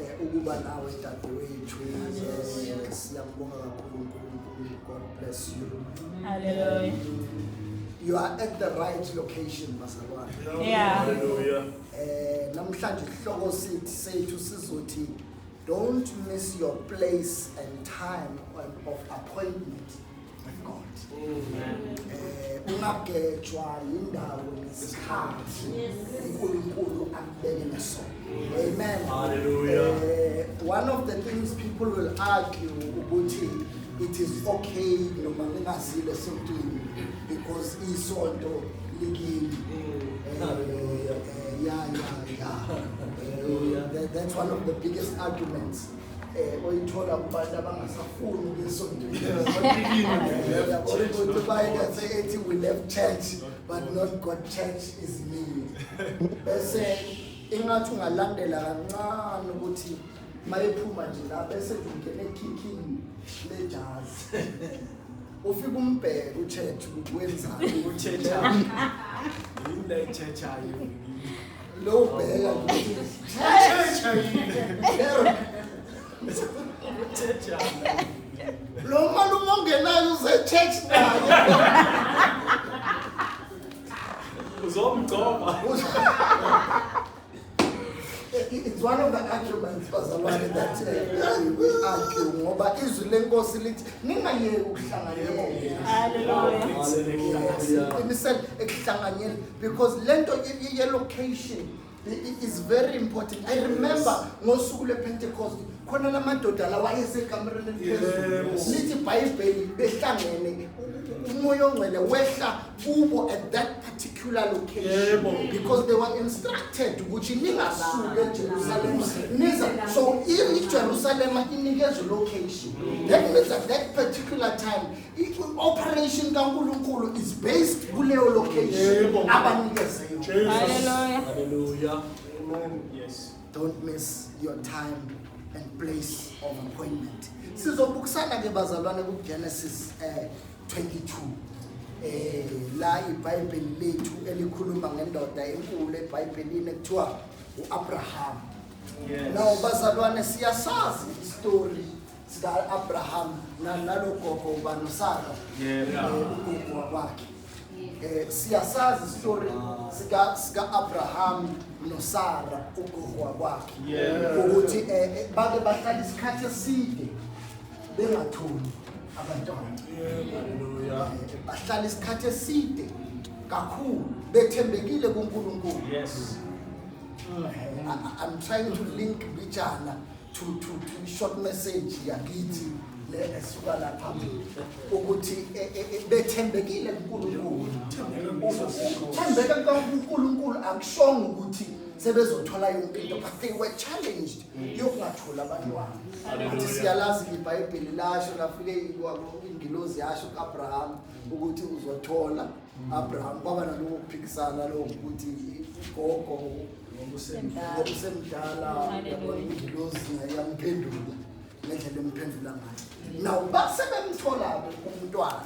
Eh, ukuba nawe dadewethu eh, siyakubonga kakhulu unkulunkulu god bless you Hallelujah. you are at the right location bazalwane Yeah. Hallelujah. eh namhlanje isihloko sithi sethu sizothi don't miss your place and time on- of appointment ungagejwa yindawo nesikhathi uNkulunkulu akubeke naso amen haleluya eh, one of the things people will argue ukuthi it is okay noma ngingazile something because isonto likini eh, eh, yeah yeah yeah that's one of the biggest arguments eh oyithola kubantu abangasafuni ukuyisondela ukuthi bayinethe ethi we left church but not God church is me bese ingathi ungalandela kancane ukuthi mayephuma nje la bese ngingena ekicking lejazi ufika umbheke uchurch ukuthi wenzani uchurch yini la ichurch ayo Lo ubheka ukuthi Thetha yini? Thetha. lo malume ongenayo uze church naye. Uzomgcoba. It's one of the arguments bazalwane that uh, we argue ngoba izwi lenkosi lithi ningayeki ukuhlanganyela. Hallelujah. Qinisele ekuhlanganyeleni. because lento ye location is very important i remember ngosuku lwepentecost khona la madoda la wayesekamereni eliphezulu lithi ibhayibheli behlangene umoya ongcwele wehla kubo at that particular location because they were instructed ukuthi ningasuke ejerusalema niza so ijerusalema inikezwe location that means at that particular time operation kaNkulunkulu is based kuleyo location abanikeze yona haleluya haleluya amen yes don't miss your time and place of appointment sizobukisana ke bazalwane ku Genesis eh 22 eh la iBhayibheli lethu elikhuluma ngendoda enkulu eBhayibhelini ekuthiwa uAbraham yes now bazalwane siyasazi istory sika-abraham nalogogo uba nosara ugogo wakwakhe um siyasazi isitori sika-abraham nosara ugogo wakwakhe ukuthi um bake bahlala isikhathi eside bengatholi abantwana bahlala isikhathi eside kakhulu bethembekile kunkulunkulu i'm trying to link bijana to to to short message yakithi le esuka lapha ukuthi e, e, e, bethembekile kuNkulunkulu thembeka kuNkulunkulu akushongo ukuthi sebezothola yonke into but they were challenged yokungatholi abantwana athi siyalazi ibhayibheli lasho lafike ingilozi yasho ku-abraham ukuthi uzothola abraham kwaba nalowo kuphikisana lowo ukuthi ugogo ngokusemdala ingilosi ngayamuphendula ngendlela emphendula ngayo nawo basebemthola-ke umntwana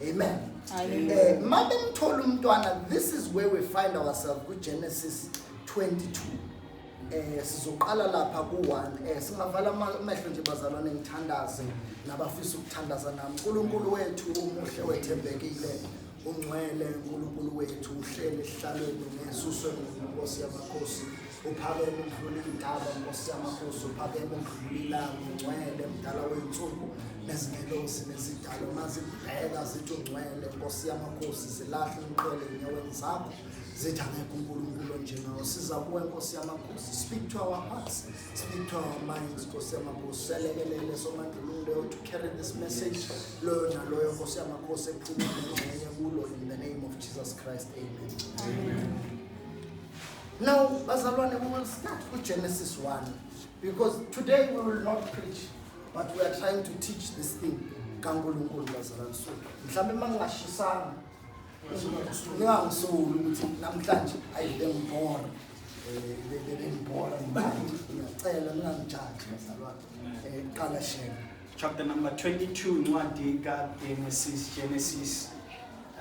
amen um eh, ma bemthola umntwana this is where we find ourselves kugenesis 22 eh sizoqala lapha ku-one eh singavala amehlo nje bazalwane ngithandaze nabafisa ukuthandaza nami unkulunkulu wethu umuhle wethembekile Ungcwele uNkulunkulu wethu uhleli esihlalweni ngesuswe nkosi yamakhosi uphakeme ukudlula indaba nkosi yamakhosi uphakeme ukudlula ilanga ungcwele mdala wey'nsuku nezingelosi nezidalo mazibheka zithi ungcwele nkosi yamakhosi zilahle umqele enyaweni zakho zithi angekho unkulunkulu onjengawo siza kuwe nkosi yamakhosi speak to our hearts speak to our minds nkosi yamakhosi selekelele somandlululo to carry this message loyo naloyo nkosi yamakhosi ekuphuma nengxenye kulo in the name of jesus christ amen, amen. now bazalwane we will start with genesis 1 because today we will not preach but we are trying to teach this thing kankulunkulu bazalwane so mhlawumbe uma ngingashisanga ningangisoli ukuthi namhlanje ayile ngibhora bebebengibhora ngibani ngiyacela ningangijaji bazalwane um qala shela chapter number 22 incwadi kaGenesis Genesis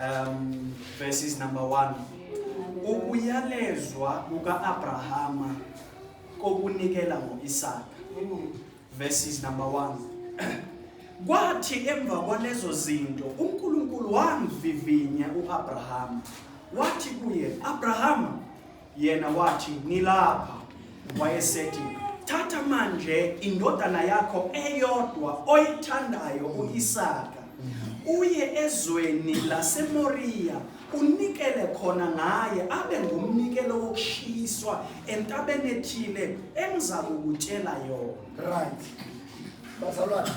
um verses number 1 ukuyalezwa kuka-abrahama kokunikela ngo-isaka verses number 1 kwathi emva kwalezo zinto unkulunkulu wamvivinya u-abrahama wathi kuye abrahama yena wathi ngilapha wayesethi thatha manje indodana yakho eyodwa oyithandayo uIsaka uye ezweni laseMoriya unikele khona ngaye abe ngumnikelo wokushiswa entabeni ethile engizakukutshela yona right bazalwane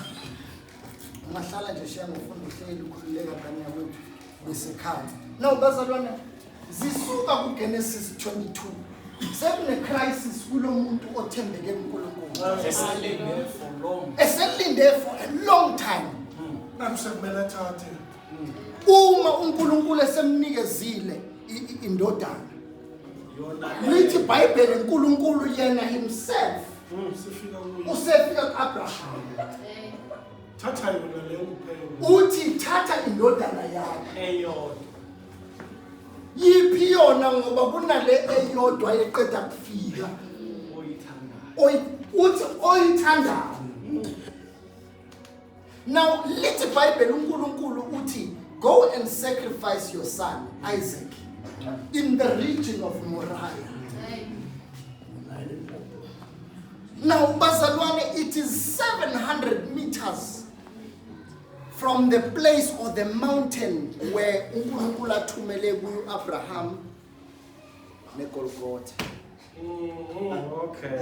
ungahlala nje shiya ngofunda uhleli ukhululeka ngane yakwethu besikhathi no bazalwana zisuka kugenesis 22 sekunecrisis kulo muntu othembeke kunkulunkulu eselinde for a long time hmm. sekumele athathe uma unkulunkulu esemnikezile indodana lithi ibhayibheli unkulunkulu yena himself mm, usefika ku-abraham thatha yona leyo kuphela uthi thatha indodana yakhe eyodwa yiphi yona ngoba kunale eyodwa eqeda kufika oyithandayo uthi oyithandayo now lithi ibhayibheli unkulunkulu uthi go and sacrifice your son isaac in the region of moriah now bazalwane it is 700 meters from the place or the mountain where unkulunkulu athumele kuyo-abraham negolgotha Okay.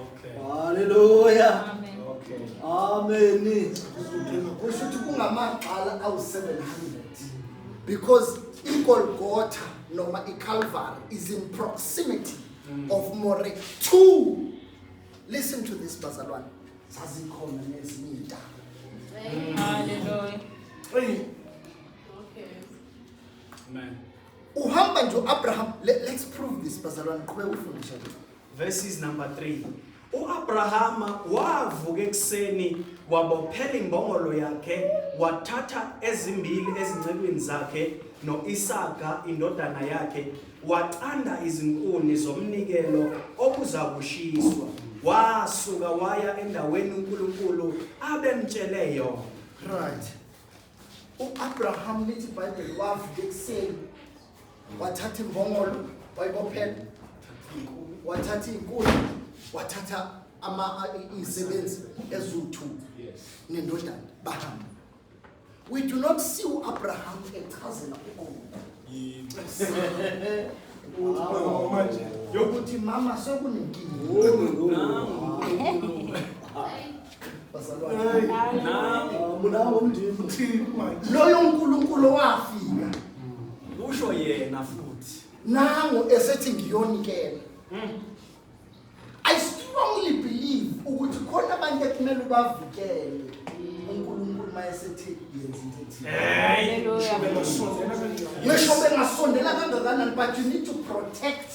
Okay. Hallelujah. Amen. Okay. Amen. Kusho ukuthi kungamagxala awu-700 because igolgotha noma iCalvary is in proximity mm. of more two listen to this bazalwane zazikhona nezinye intaba haleluya okay amen Uhamba nje uAbraham. Let, let's prove this bazalwane qhubeka ufundisha nje. Verses number 3. UAbrahama wavuka ekuseni wabophela imbongolo yakhe wathatha ezimbili ezincekwini zakhe noIsaka indodana yakhe wacanda izinkuni zomnikelo okuzakushiswa wasuka waya endaweni uNkulunkulu abemtshele yona. Right. U-Abraham lithi iBhayibheli wavuka ekuseni wathatha imbongolo wayibophela wathatha inkuni wathatha ama izisebenzi eziwu-two nendodana bahamba we do not see u-abraham echazela ugogo yokuthi mama sekunenkinga loyo uNkulunkulu owafika usho yena futhi nango esethi ngiyonikela I strongly believe ukuthi khona abantu ekumele ubavikele uNkulunkulu mayesethi yenza into ethile ngisho bengasondela kangakanani but you need to protect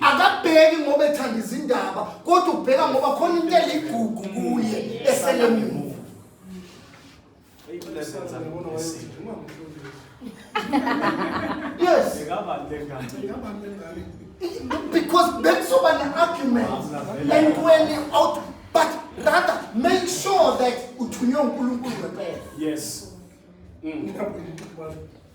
akabheki ngoba ethanda izindaba kodwa ubheka ngoba khona into eligugu kuye eselemuva yes because bekuzoba ne-argument entweni out but rather make sure that uthunywe unkulunkulu ngempela yes mm.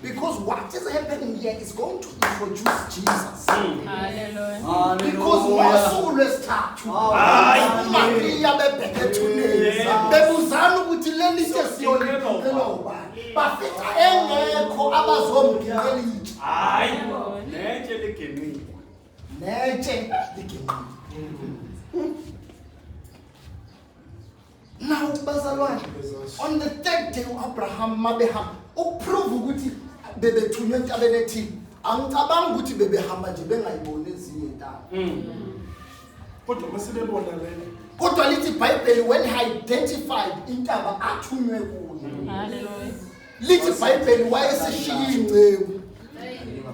Because what is happening here is going to introduce Jesus. Hallelujah. Because ngosuku lwesithathu uMariya bebheke ethuneni bebuzana ukuthi leli ke siyoliphela ubani bafica engekho abazomgibela itshe hayi netshe liginqile netshe liginqile Now bazalwane on the third day uAbraham mabehamba ukuprove ukuthi bebethunywe entabeni ethile. Angicabanga ukuthi bebehamba nje bengayiboni ezinye intaba. Mm. Kodwa masibebona lena. Kodwa lithi iBhayibheli when he identified intaba athunywe kuyo. Hallelujah. lithi ibhayibheli wayesishiya inceku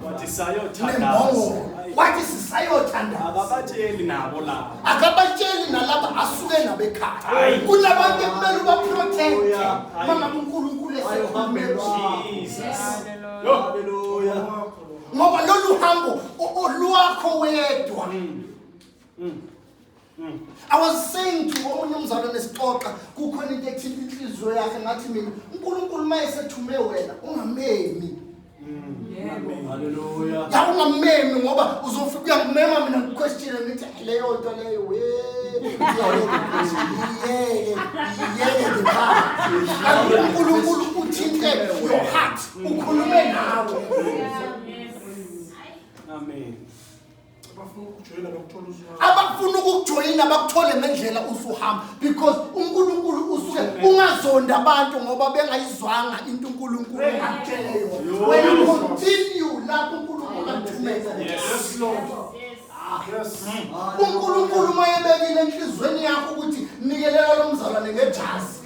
wathi sayothandaza wathi sisayothandaza akabatsheli nabo laba akabatsheli nalaba asuke nabo ekhaya kunabantu ekumele ubaprotect oh, mama uNkulunkulu esekhulumela haleluya ngoba lolu hambo olwakho wedwa mm. Mm. I was saying to omunye umzalwane esixoxa kukhona into ethinta inhliziyo yakhe ngathi mina uNkulunkulu mayesethume wena ungamemi Hallelujah. ya ungamemi ngoba uzofika uyakumema mina ngiquestion ngithi "Ay, leyo nto leyo we yeke yeke ngiphansi uNkulunkulu uthinte your heart ukhulume nawe Amen. abafuna ukukujoyina bakuthole ngendlela usuhamba because unkulunkulu usuke ungazonda abantu ngoba bengayizwanga into unkulunkulu akutshele yona wena continue lapho unkulunkulu akuthumeza unkulunkulu uma ebekile enhliziyweni yakho ukuthi nikelela lo mzalwane ngejazi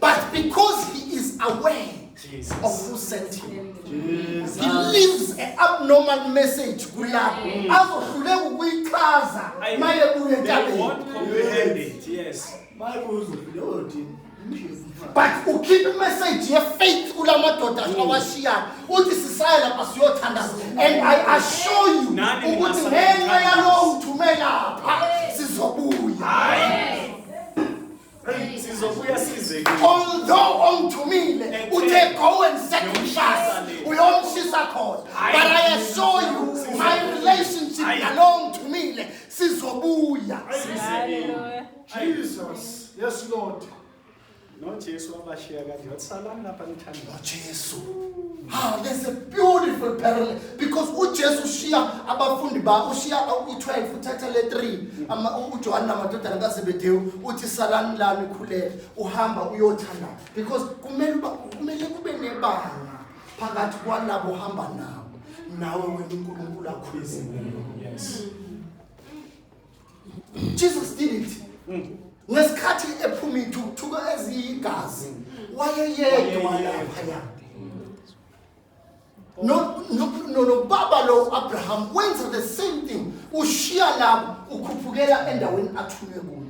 But because he is aware Jesus. of who sent him, Jesus. he leaves an abnormal message kulapho mm. azohluleka ukuyichaza maye kuye entabeni. Yes. But ukhipha imessage yefaith kula madoda mm. awashiyayo uthi sisaya lapha siyothandaza and I assure you ukuthi ngenxa yalowo uthumela pha sizobuya. sizobuya sizekile although ongithumile uthe go and sacrifice uyomshisa khona but i assure you my relationship nalo ngithumile sizobuya jesus yes lord nojesu wabashiya kanje wathi salani lapha nojesu Ah, there's a beautiful parallel because uJesu ushiya abafundi bakhe ushiya u-12 uthatha le 3 ama uJohane namadodana kaZebedewu uthi salani lami khuleka uhamba uyothanda because kumele uba kumele kube nebanga phakathi kwalabo hamba nabo nawe wena uNkulunkulu akhulise yes Jesus did it. Mm. Ngesikhathi ephuma ithukuthuka eziyigazi wayeyedwa lapha. No no no no baba lo Abraham wenza the same thing. Ushiya lapho ukhuphukela endaweni athunywe kuyo.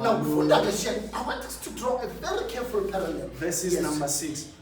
Now, Fundakashen, I want us to draw a very careful parallel. Verses yes. number 6.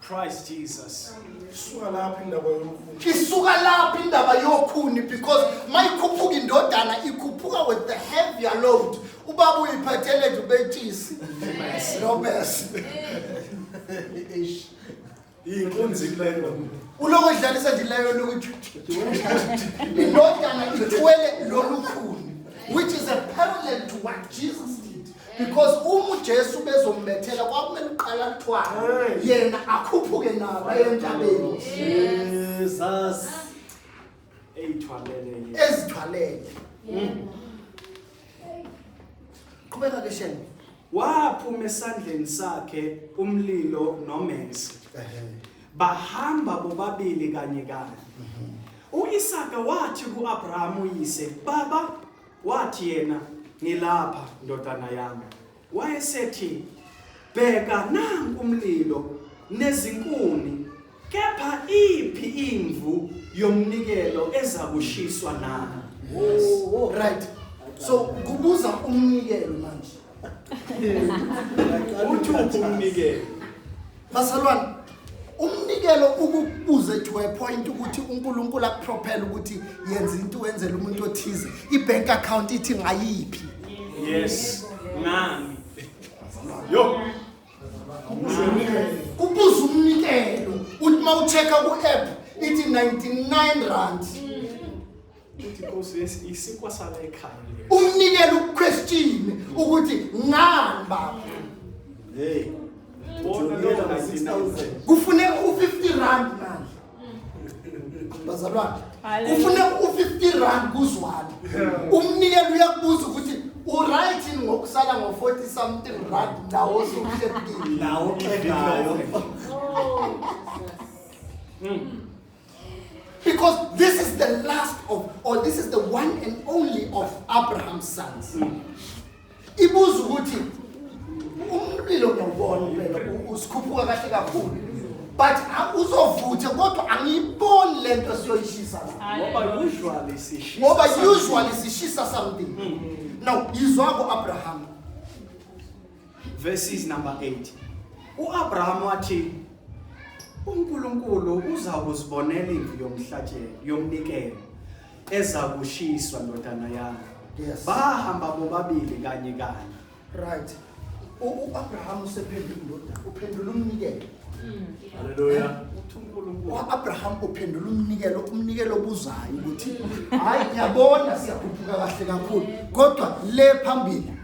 Christ Jesus. Isuka laphi indaba yokhuni? Isuka laphi indaba yokhuni because mayikhuphuka indodana ikhuphuka with the heavier load. Ubaba uyiphethele nje ubetshisi. No mess. Eish. Inkunzi kulelo. Uloko idlalisa nje leyo lokuthi indodana ithwele lolukhuni which is a parallel to what Jesus did. because uma uJesu bezombethela kwakumele uqala kuthwala yena akhuphuke nabo entabeni Jesus eyithwalele ezithwalele qhubeka ke shenge waphuma esandleni sakhe umlilo nomenzi bahamba bobabili kanye kanye mhm. u-isaka wathi ku-abrahamu uyise baba Wathi yena, Ngilapha, ndodana yami. Wayesethi, Bheka nanku umlilo nezinkuni, kepha iphi imvu yomnikelo ezakushiswa na? Yes. Right. So kubuza umnikelo manje. uthupha umnikelo basalwane umnikelo ukubuze to a point ukuthi uNkulunkulu akuprophela ukuthi yenza into wenzela umuntu othize ibank account ithi ngayiphi yes ngami yo kubuza umnikelo uthi mawuchecka ku app ithi 99 rand Uthi Nkosi yes isinkwa sala ekhaya lesi. Umnikela uquestion ukuthi ngani baba. Hey. Wona lo 19000. Kufune u50 rand manje. Bazalwane. Kufune u50 rand kuzwana. Umnikela uyakubuza ukuthi uright in ngokusala ngo 40 something rand nawo osukuhle kini. Nawo xegayo. Oh. Mm. Because this is the last of, or this is the one and only of Abraham's sons. Ibuza ukuthi umlilo ngiyawubona impela usikhuphuka kahle kakhulu but uzovuthe kodwa angiyiboni le nto siyoyishisa ngoba usually sishisa ngoba usually sishisa something hmm. now yizwa ku-abrahama verses number 8 uAbraham wathi uNkulunkulu uza kuzibonela imvu yomhlatshelo yomnikelo eza kushiswa ndodana yami yes bahamba bobabili kanye kanye right uAbraham usephendula indodana uphendula umnikelo hmm. haleluya eh? uAbraham uphendula umnikelo umnikelo obuzayo ukuthi hayi ngiyabona siyakhuphuka kahle kakhulu kodwa le phambili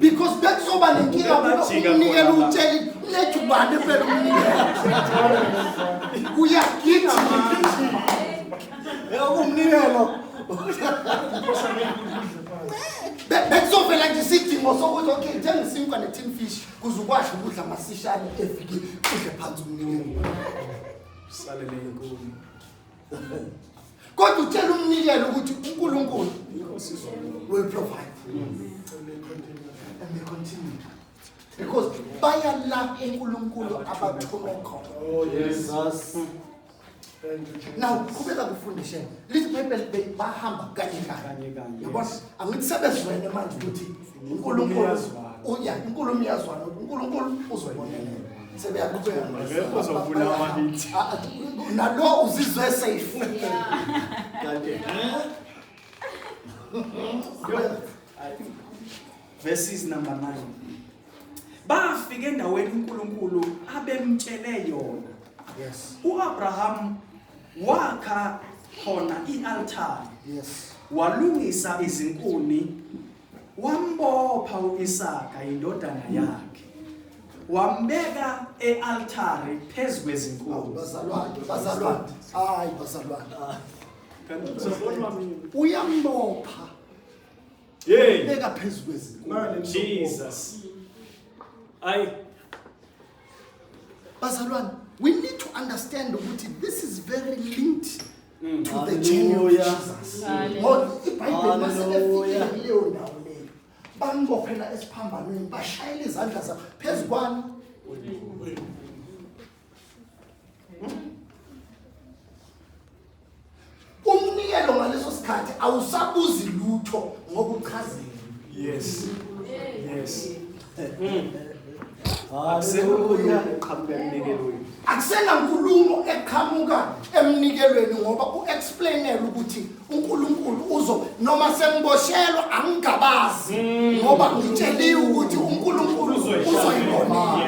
because bekuzoba nenkinga kube umnikela utsheli lethu bani phela umnikela uyagida umnikelo bekuzovela nje isidingo sokuthi okay njengisinkwa ne-tin fish kuze ukwazi ukudla masishane evikini udle phansi umnikelo usalele inkulu kodwa utshela umnikelo ukuthi uNkulunkulu will provide and they continue because bayalapha uNkulunkulu abathume khona oh jesus now qhubeka kufundisheni lithi bible bahamba kanye kanye yabona angithi sebezwene manje ukuthi uNkulunkulu uya inkulumo iyazwana uNkulunkulu uzobonela sebeyaqhubeka ngeke uzofuna amabithi nalo uzizwe safe kanti verses number 9 bafika endaweni uNkulunkulu abemtshele yona yes uAbraham Wakha khona i-altare. Yes. Walungisa izinkuni wambopha uIsaka indodana yakhe. Wambeka ealtare phezu kwezinkuni. Bazalwane, bazalwane. Hayi bazalwane. Ah. Kanti uzobonwa mina. Uyambopha. Hey. Beka phezu kwezinkuni. Jesus. Ayi bazalwane we need to understand ukuthi this is very linked mm. to the journey of Jesus ngoba ibhayibheli maselefika kuleyo ndawo leyo bambophela esiphambanweni bashayela izandla zabo phezu kwani umnikelo ngaleso sikhathi awusabuzi lutho ngokuchazile yes yes akusenankulumo eqhamuka emnikelweni ngoba u-explainela ukuthi unkulunkulu uzo noma sengiboshelwa angigabazi mm. ngoba ngitsheliwe ukuthi unkulunkulu uzoyibona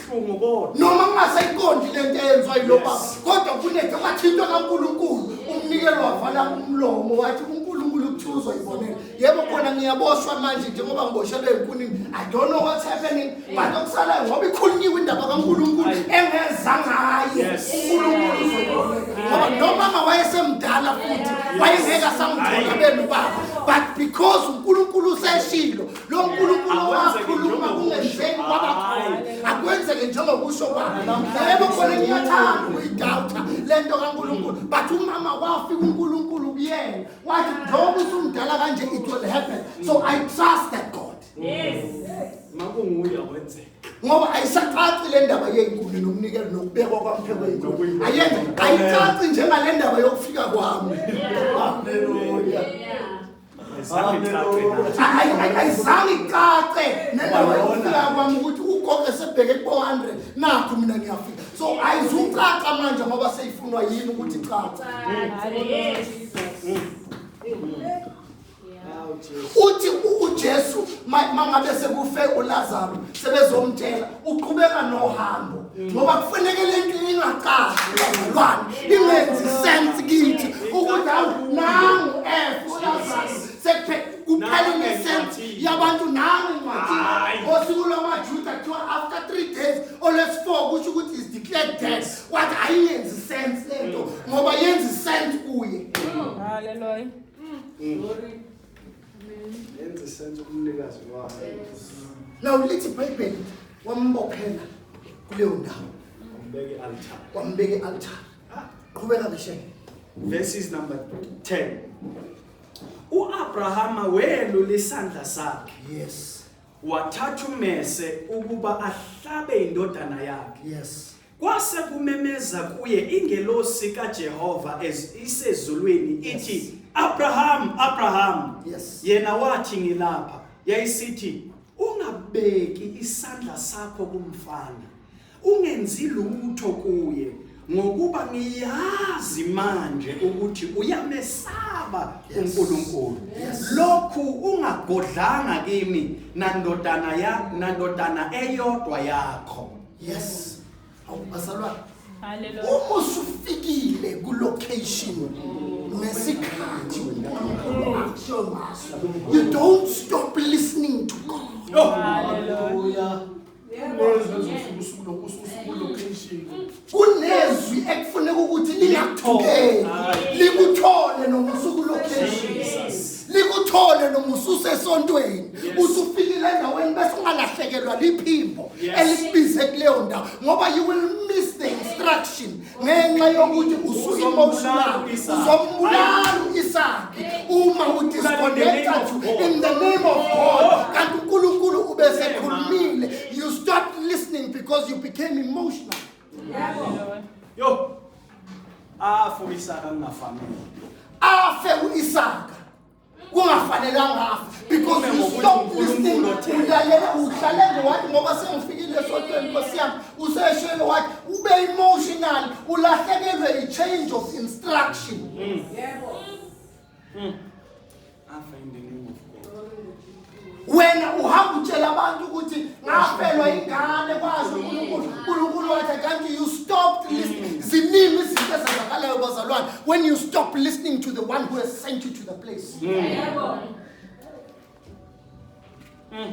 Buhlungu kodwa. noma kungasayiqondi le nto eyenziwa yilo Yes. baba kodwa kunethe kwathintwa kankulunkulu umnikelo wavala umlomo wathi unkulunkulu kuthiwa uzoyibonela yebo khona ngiyaboshwa manje njengoba ngiboshelwe enkunini i don't know what's happening but okusalayo ngoba ikhulunyiwe indaba kankulunkulu Ayi. engeza ngaye Yes. unkulunkulu uzoyibonela ngoba nomama wayesemdala futhi wayengeke asamgcoka benu baba but because unkulunkulu useshilo lo nkulunkulu wakhuluma kungenzeki kwaba khona akwenzeke njengokusho kwami yebo khona ngiyathanda ukuyidawutha le nto kankulunkulu but umama wafika unkulunkulu kuyena wathi njengoba usumdala kanje it will happen so i trust that god yes makunguye wenzeka ngoba ayisacaci le ndaba yenkulu nokunikela nokubekwa kwampheko yenkulu ayenza ayicaci njengale ndaba yokufika kwami haleluya ayizange icace nendawo yokufika kwami ukuthi ugogo esebheke kubo-andre nakho mina ngiyafika so ayizucaca manje ngoba seyifunwa yini ukuthi icace uthi ujesu mangabe sekufe ulazaro sebezomtshela uqhubeka nohambo ngoba kufaneke le nto ingacashi bazalwane ingenzi sense kithi ukuthi awu nangu f ulazaro sekuphela kuphela unesense yabantu nangu incwadi ngosuku lwamajuda kuthiwa after three days olwesi-four kusho ukuthi is declared dead wathi ayingenzi sense le nto ngoba yenza isense kuye haleluya mm. Mm. Yenze senze umnikazi wakho. Now lithi iBhayibheli wambophela kuleyo ndawo. Wambeke altar. Wambeke altar. Qhubeka ngishe. Verses number 10. UAbrahama welo lesandla sakhe. Yes. Wathatha umese ukuba ahlabe indodana yakhe. Yes. Kwase kumemeza kuye ingelosi kaJehova isezulwini ithi yes. Abraham Abraham yes. yena wathi ngilapha yayisithi ungabeki isandla sakho kumfana ungenzi lutho kuye ngokuba ngiyazi manje ukuthi uyamesaba uNkulunkulu lokhu ungagodlanga kimi nandodana ya nandodana eyodwa yakho yes awubazalwane Hallelujah. uma usufikile kulocation nesikhathi uNkulunkulu akusho ngaso you don't stop listening to God Hallelujah. kunezwi ekufuneka ukuthi lingakuthukeli likuthole noma usuku location likuthole noma ususesontweni usufikile endaweni bese ungalahlekelwa liphimbo elikubize kuleyo ndawo ngoba you will miss the instruction ngenxa yokuthi usu-emotional uzombulala isakhe uma udisconnecta to in the name of god oh. kanti unkulunkulu ubesekhulumile you stop listening because you became emotional Yo. Afu Isaka kungafanele. Afe uIsaka. Kungafanelanga afe because you stop listening. Uyalela uhlale ngowathi ngoba sengifikile esontweni Nkosi yami. Useshelo wathi ube emotional ulahlekelwe i change of instruction. Yebo. Hmm. Wena uhamba utshela abantu ukuthi ngafelwa ingane kwazi uNkulunkulu. uNkulunkulu wathi kanti you stopped listening. Hmm. Ziningi izinto ezenzakalayo bazalwane when you stop listening to the one who has sent you to the place. Hmm.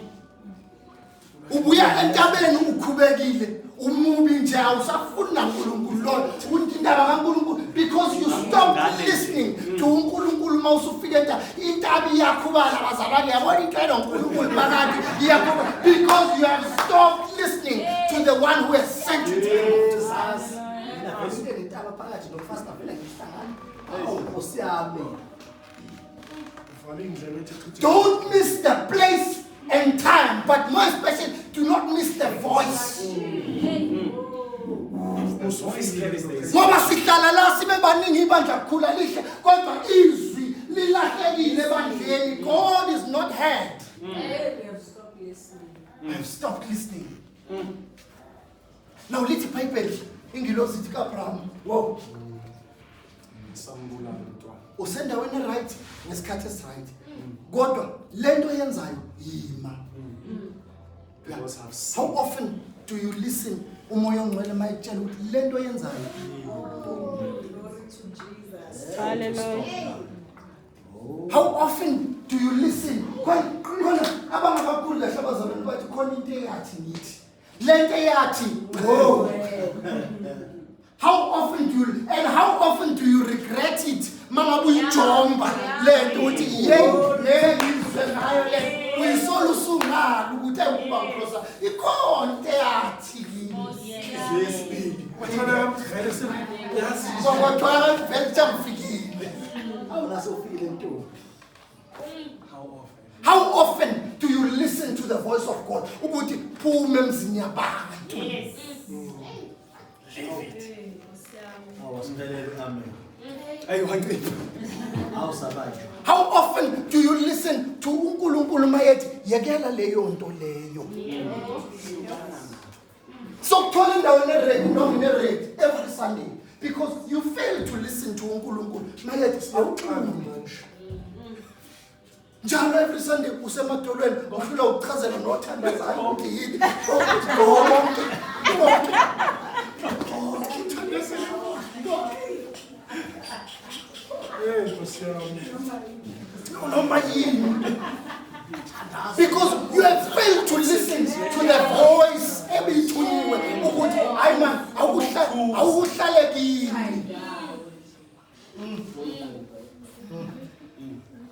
ubuya entabeni ukhubekile umubi nje awusafuni nankulunkulu loyo uthi indaba kankulunkulu because you stop listening to unkulunkulu uma usufika enta intabi iyakhubala bazalwane yabona into elo nkulunkulu phakathi iyakhuba because you have stopped listening to the one who has sent you to the world. Nentaba phakathi nomfasita vele ngihlangana. Awu nkosi yami. Don't miss the place and time, but more especially, do not miss the voice. ngoba sihlala la sibe baningi ibandla kukhula lihle kodwa izwi lilahlekile ebandleni god is not heard mm. I have stopped listening. Mm. Now lithi iBhayibheli ingilosi ithi kaAbraham, wow. Sambulala mntwana. Usendaweni right ngesikhathi esiright. Kodwa lento yenzayo yima. Yeah. Because I've seen How often do you listen umoya ongcwele mayekutshela ukuthi lento yenzayo? Hallelujah. How often do you listen? Khona khona abangakakhulu lahle abazalwane bathi khona into eyathi ngithi. lento eyathi wo how often do you, and how often do you regret it mangabe uyijomba lento ukuthi yeyi ngengizwe ngayo le uyisola usungalo ukuthi ayikuba ngikhosa ikhona into eyathi kimi kwakwathiwa vele chamfikile awunasofikile ntombi How often do you listen to the voice of God? Ukuthi phuma emzini yabantu. Yes. How often do you listen to uNkulunkulu mayethi yekela leyo nto leyo? sokuthola indawo enered noma inered every sunday because you fail to listen to unkulunkulu mayethi siyawuxhumi njalo every sunday usemadolweni ufuna ukuchazela nothandazana ukuthi yini okuthi konke konke Hey, Nkosi yami. Noma yini. Because you have failed to listen to the voice ebiyithunyiwe ukuthi hayi man awukuhla- awukuhlale kimi.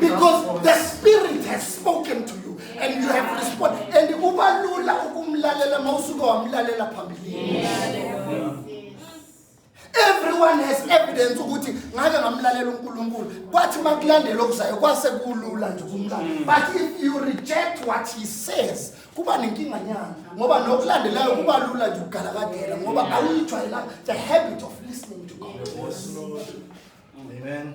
Because the spirit has spoken to you and you have responded and ubalula ukumlalela mawusuke wamlalela phambilini. everyone has evidence ukuthi ngake ngamlalela uNkulunkulu kwathi makulandela okuzayo kwase kulula nje kumlala mm. but if you reject what he says kuba nenkinga nyana ngoba nokulandelayo kuba lula nje ukugalakadela ngoba mm. awuyijwayelanga the habit of listening to God amen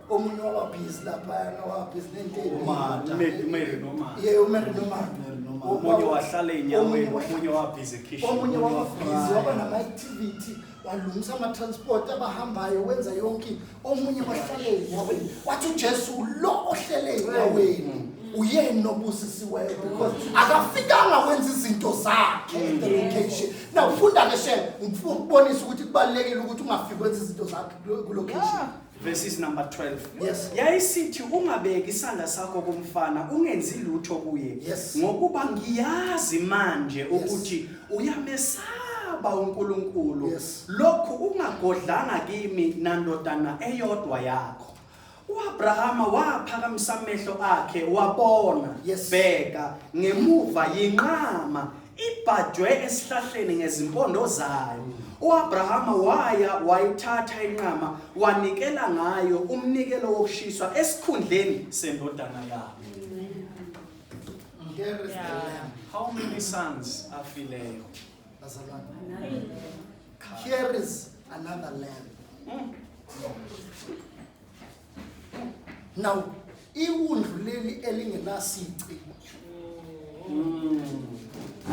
omunye wababhizi laphayana wabhizi nenteniye umere nomaomunye wahlala enyaweni omunye wabhizi ekhishomunye wababhizi waba nama-activity walungisa ama-transport abahambayo wenza yonke omunye wahlala enyaweni wathi ujesu lo ohlele enyaweni uyena obusisiweyo because akafikanga wenza izinto zakhe mm. the location now funda ke shem ngifuna ukubonisa ukuthi kubalulekile ukuthi ungafiki wenza izinto zakhe ku-location yeah. verses number 12 Yes. yayisithi ungabeki isandla sakho kumfana ungenzi lutho kuye Yes. ngokuba ngiyazi manje ukuthi uyamesaba uNkulunkulu Yes. lokhu ungagodlanga kimi nandodana eyodwa yakho uAbrahama waphakamisa amehlo akhe wabona Yes. bheka ngemuva yinqama ibhajwe esihlahleni ngezimpondo zayo uAbrahama waya wayithatha inqama wanikela ngayo umnikelo wokushiswa esikhundleni sendodana yakhe how many sons afileyo here is another lamb mm. now iwundlu leli elingenasici mm.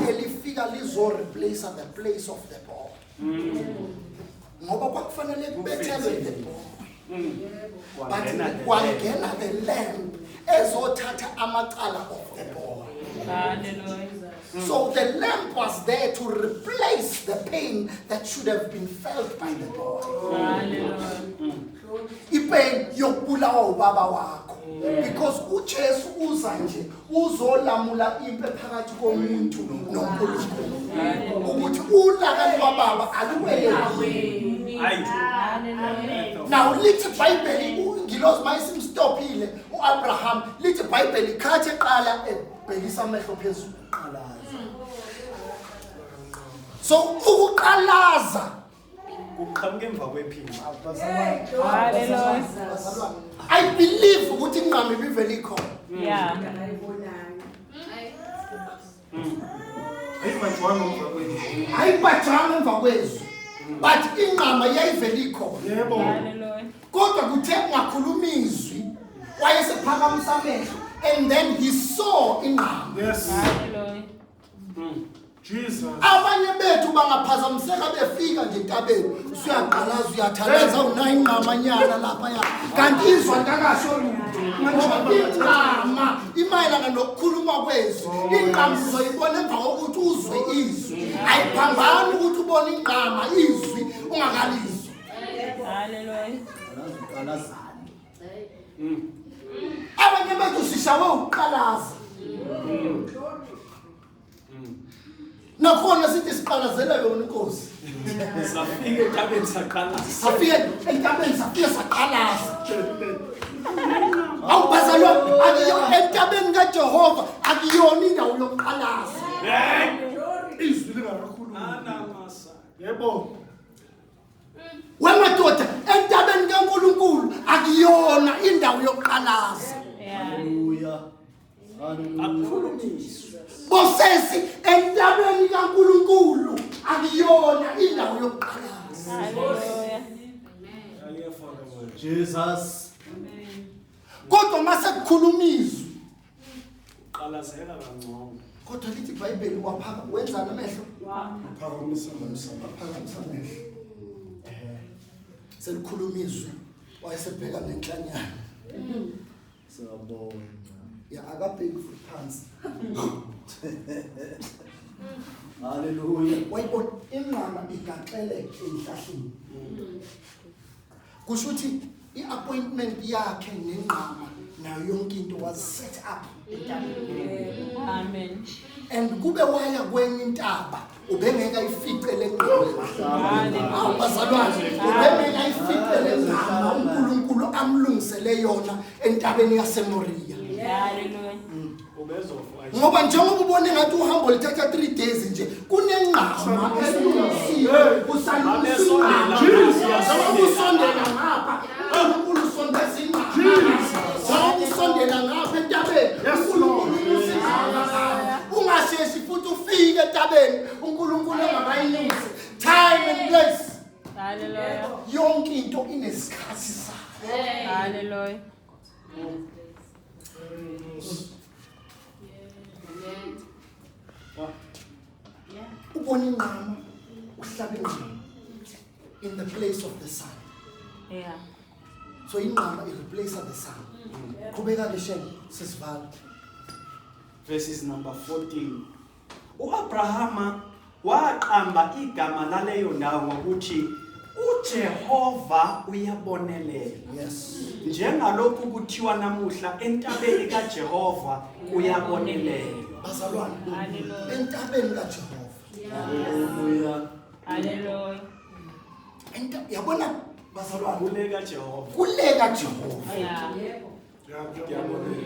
elifika lizo replace the place of the boy mm. ngoba kwakufanele kubethelwe the boy mm. but kwangena the lamp ezothatha amacala of the boy so the lamp was there to replace the pain that should have been felt by the boy ipain yokubulawa ubaba wakho because uJesu uza nje uzolamula impi phakathi komuntu noNkulunkulu ukuthi ulaka lwababa aluwele Now lithi iBhayibheli ungilozi mayisimstophile uAbraham lithi iBhayibheli khathi eqala ebhekisa amehlo phezulu eqalaza So ukuqalaza kuqhamuka emva kwephini i believe ukuthi inqama ibivele ikhona yeah ayibhajanga emva kwezwi but inqama yayivele ikhona kodwa kuthe kungakhuluma izwi wayesephakamisa amehlo and then he saw inqama yes. Jesus. Abanye bethu bangaphazamiseka befika nje entabeni. Usuyaqalaza uyathalaza unayo ingqamanyana lapha ya. Kanti izwa ntakasho lutho. Ngoba ingqama imayelana nokukhuluma kwezwi. Ingqama uzoyibona emva kokuthi uzwe izwi. Ayiphambani ukuthi ubone ingqama izwi ungakalizwa. Hallelujah. Uqalazani? abanye bethu sishawe ukuqalaza nakhona sithi siqalazela yona inkosi safike entabeni saqalaza safike entabeni safike saqalaza awubhazalwa akuyo entabeni kajehova akuyona indawo yokuqalaza izwi lingakakhuluma yebo wemadoda entabeni kaNkulunkulu akuyona indawo yokuqalaza haleluya akhulumiswe bosesi entabeni kaNkulunkulu akuyona indawo yokuqalaza haleluya Jesus kodwa mase kukhulumizwe Uqalazela kangcono. Kodwa lithi iBhayibheli waphaka wenzana amehlo. Waphakamisa amehlo. Waphakamisa amehlo. Eh. Selikhuluma izwi wayesebheka ngenhlanyana. Siyabonga. Ya akabheki futhi phansi. Hallelujah. Wayibona inqama igaxele enhlahleni. kusho ukuthi i-appointment yakhe nengqama nayo yonke into was set up amen and kube waya kwenye intaba ubengeka ifice lengqamabazalwane ubengeka ifice lengqama unkulunkulu amlungisele yona entabeni yasemoriya ngoba njengoba ubone ngathi uhambo lithatha 3 days nje kunengqama esilungisiwe usalusinqamausondela ngapha unkulu sondeza ingqamausondela ngapha entabeni ungasheshi futhi ufike entabeni unkulunkulu engakayinyusi time and place yonke into inesikhathi sayo ubona inqama uhlaba inqama in the place of the sun yeah so inqama i replace the sun qhubeka ke shem sisivala verses number 14 U-Abrahama waqamba igama laleyo ndawo ngokuthi uJehova uyabonelela. Yes. Njengalokhu kuthiwa namuhla entabeni kaJehova uyabonelela. Bazalwane. Hallelujah. Entabeni kaJehova. Hallelujah. Hallelujah. Enta yabona bazalwane kule kaJehova. Kule kaJehova. Yeah.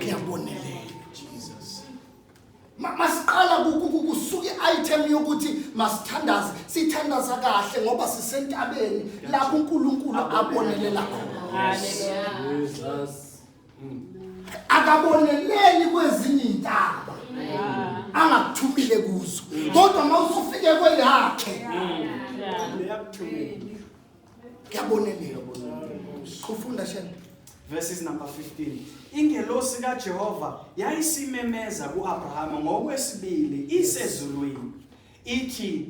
Kuyabonelela. masiqala kusuke i-item yokuthi masithandaze sithandaza kahle ngoba sisentabeni lapho unkulunkulu abonelela khona mm. akaboneleli kwezinye iy'ntaba angakuthumile kuzo mm. kodwa uma usufike kweyakhe mm. kuyabonelelwa ufunda shela verses number 15 ingelosi kaJehova yayisimemeza kuAbrahama ngokwesibili isezulwini ithi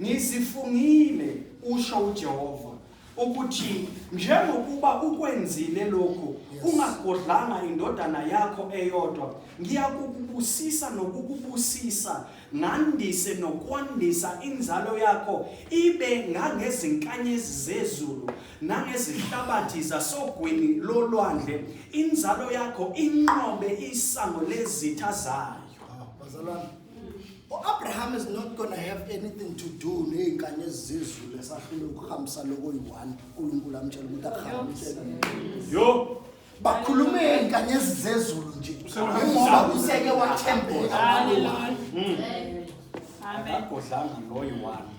ngizifungile usho uJehova ukuthi njengokuba ukwenzile lokhu ungagodlanga indodana yakho eyodwa ngiyakukubusisa nokukubusisa ngandise nokwandisa inzalo yakho ibe ngangezinkanyezi zezulu nangezihlabathi zasogwini lolwandle inzalo yakho inqobe isango lezitha zayo ah, bazalwane uAbraham is not going to have anything to do nezinkanye ezizulu esahlule ukuhambisa lokho yi1 uNkulunkulu amtshela ukuthi akuhambise yo bakhulumeni kanyezi zezulu nje ngoba useke wathembeka hmm. akagodlanga loyo wami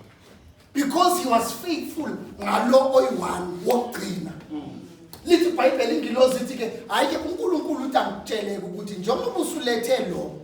because he was faithful ngalo oyi-one wokugcina hmm. lithi ibhayibheli ingilozi ithi-ke hhayi-ke unkulunkulu uthi angikutsheleke ukuthi njengoba usulethe lo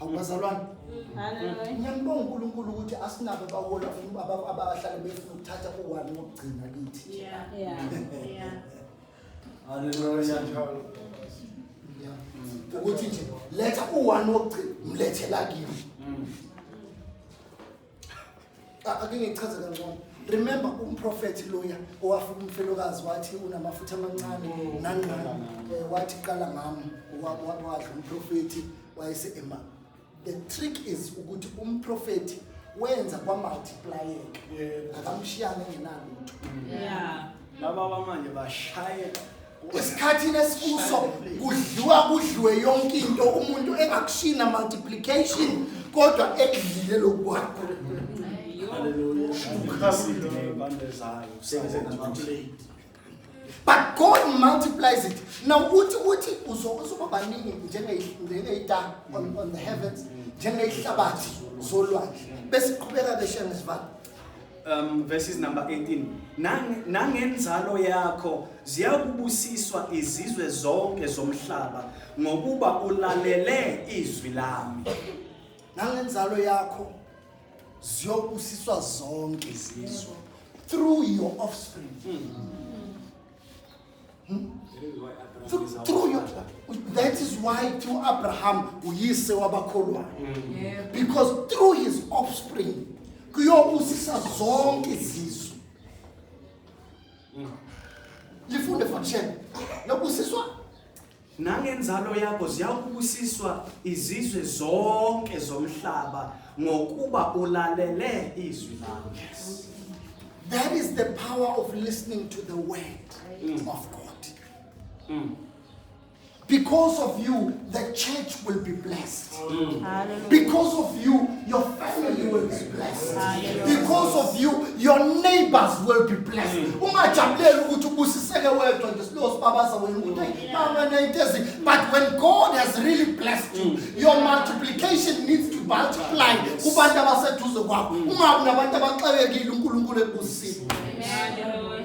awubazalwane ngiyambonga unkulunkulu ukuthi asinabo abahola abahlale befuna ukuthatha uwani wokugcina kithi ukuthi nje letha uwani wokugcina mlethela kimi A- ake ngichaze kangcono remember umprofethi loya owafika umfelokazi wathi unamafutha amancane nangqana Eh, wathi qala ngami wa- wa- wadla umprofethi wayese-ema the trick is ukuthi umprofethi wenza kwamultiplayeka akamshiyanga engenalutho Yeah. laba bamanje bashayela esikhathini esikuso kudliwa kudliwe yonke into umuntu engakushina multiplication kodwa ekudlile lokwakho but god multiplies it now uthi uthi uzokuba baningi njengeyitanga on the heavens njengeyihlabathi zolwandle besiqhubeka beshengesivalo um, verses number 18 nangenzalo yakho ziyakubusiswa izizwe zonke zomhlaba ngokuba ulalele izwi lami nangenzalo yakho ziyobusiswa zonke izizwe through your offspring mm -hmm. Hmm? Through your, that is why through Abraham uyise wabakholwayo mm. because through his offspring kuyobusisa zonke izizwe mm. lifunde fakshela nobusiswa Nangenzalo yakho ziyakubusiswa izizwe zonke zomhlaba ngokuba ulalele izwi lakho. Yes. That is the power of listening to the word mm. of God. Mm. Because of you, the church will be blessed. Mm. Because of you, your family will be blessed. Because of you, your neighbors will be blessed. Mm. Ungajabuleli ukuthi ubusiseke wedwa nje silowo sibabaza wena ukuthi hey mama nayitezi but when God has really blessed you, mm. your multiplication needs to multiply kubantu abaseduze kwakho. Ungabi nabantu abaxakekile uNkulunkulu ekubusisile. Amen.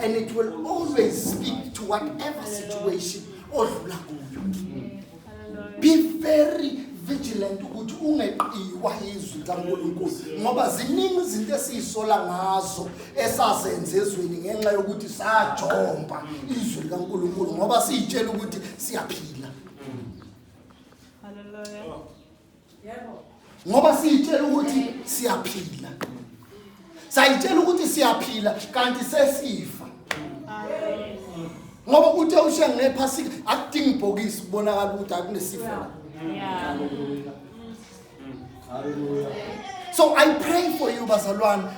and it will always speak to whatever situation odlula kuyo be very vigilant ukuthi ungeqiwa izwi likaNkulunkulu ngoba ziningi izinto esizisola ngazo esazenze ezweni ngenxa yokuthi sajomba izwi likaNkulunkulu ngoba siyitshela ukuthi siyaphila haleluya ngoba siyitshela ukuthi siyaphila sayitshela ukuthi siyaphila kanti sesifa ngoba uthe ushiya ngephasika akudingi ibhokisi kubonakala ukuthi akunesifo la So I pray for you, Bazalwan,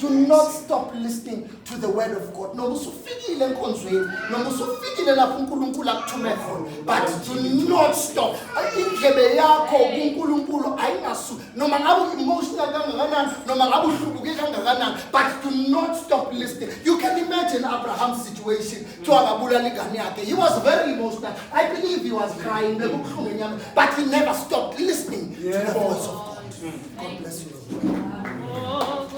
to not stop listening to the word of God noma usufikile enkonzweni noma usufikile lapho uNkulunkulu akuthume khona but do not stop indlebe yakho kuNkulunkulu ayingasu noma ngabe emotional kangakanani noma ngabe uhlubuke kangakanani but do not stop listening you can imagine Abraham's situation to akabulala ingane yakhe he was very emotional i believe he was crying bekubuhlungu enyama but he never stopped listening to the voice of God God bless you